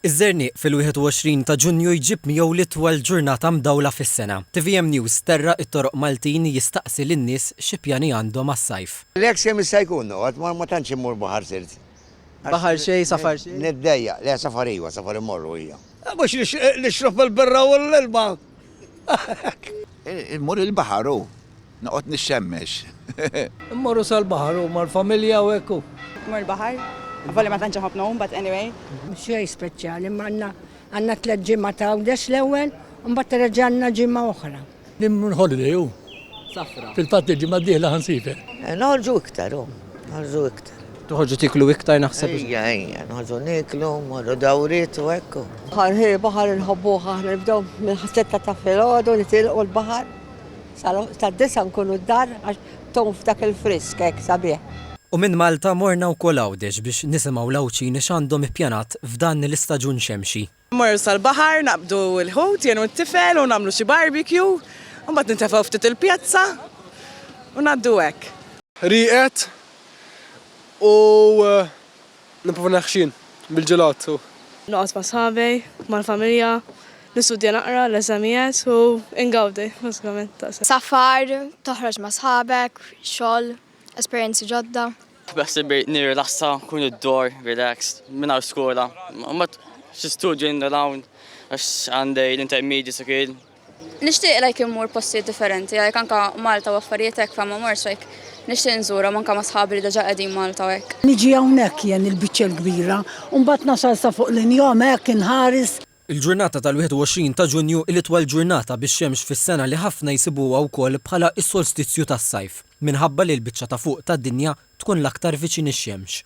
Iż-żerniq fil-21 ta' Ġunju jġib miegħu l-itwal ġurnata mdawla fis-sena. Tvm News terra' t-toroq Maltin jistaqsi lin-nies xi pjani għandhom għas-sajf. L-eks kemm jista' jkun noqgħod, ma ma tantx immur baħar sirt. Baħar xejn, safar xejn. Niddejjaq. Le safar iva, safar immorru hija. Mhux nixrob il-birra u l-ilma. Immur il-baħar hu. Noqgħod nixxemmex. Immorru sal-baħar u mal-familja u hekk u. Immur il-baħar. Avolja ma tantx inħobb ngħum but anyway. Xejn speċjali imma għandna għandna tliet ġimgħat ta' Għawdex l-ewwel u mbagħad terġa' għandna ġimgħa oħra. Immur holiday u. Safra. Fil-fatt il-ġimgħa d-dieħla ħansiefer. Noħorġu iktar u. Noħorġu iktar. Toħorġu tieklu iktar naħseb. Ejja, ejja, noħorġu nieklu, mmorru dawriet u hekk u. Baħar, hi, baħar inħobbuh aħna nibdew minn ħas-sitta ta' filgħodu nitilqu l-baħar. Sal-għodu tad-disgħa nkunu d-dar għax tgħum f'dak il-frisk hekk sabiħ. U minn Malta morna wkoll Għawdex biex nisimgħu l-Għawdxini x'għandhom ippjanat f'dan l-istaġun xemxi. Immorru sal-baħar, naqbdu l-ħut jien u t-tifel u nagħmlu xi barbecue, u mbagħad nintefgħu ftit il-pjazza u ngħaddu hekk. Rieqed u Nipprova neħxin bil-ġelat u. Noqgħod ma' sħabi, mal-familja, nistudja naqra l-eżamijiet u ngawdi bażikament ta' se. Safar, toħroġ ma' sħabek, xogħol, esperjenzi ġodda. Beħsieb nirrilassa, nkun id-dor, relaxed, mingħajr skola. Imbagħad xi studju hemm u hawn għax għandi l-intermedji sikwil. Nixtieq like immur postijiet differenti, like anka Malta u affarijiet hekk fama morx like nixtieq nżurhom anka ma' sħabi li deġa qegħdin Malta u hekk. Niġi hawnhekk jien il-biċċa l-kbira u mbagħad nasal sa fuq l-injam hekk inħares. Il-ġurnata tal-21 ta' Ġunju hi l-itwal ġurnata bix-xemx fis-sena li ħafna jsibuha wkoll bħala s-solstizju tas-sajf, minħabba li l-biċċa ta' fuq tad-dinja tkun l-aktar viċin ix-xemx.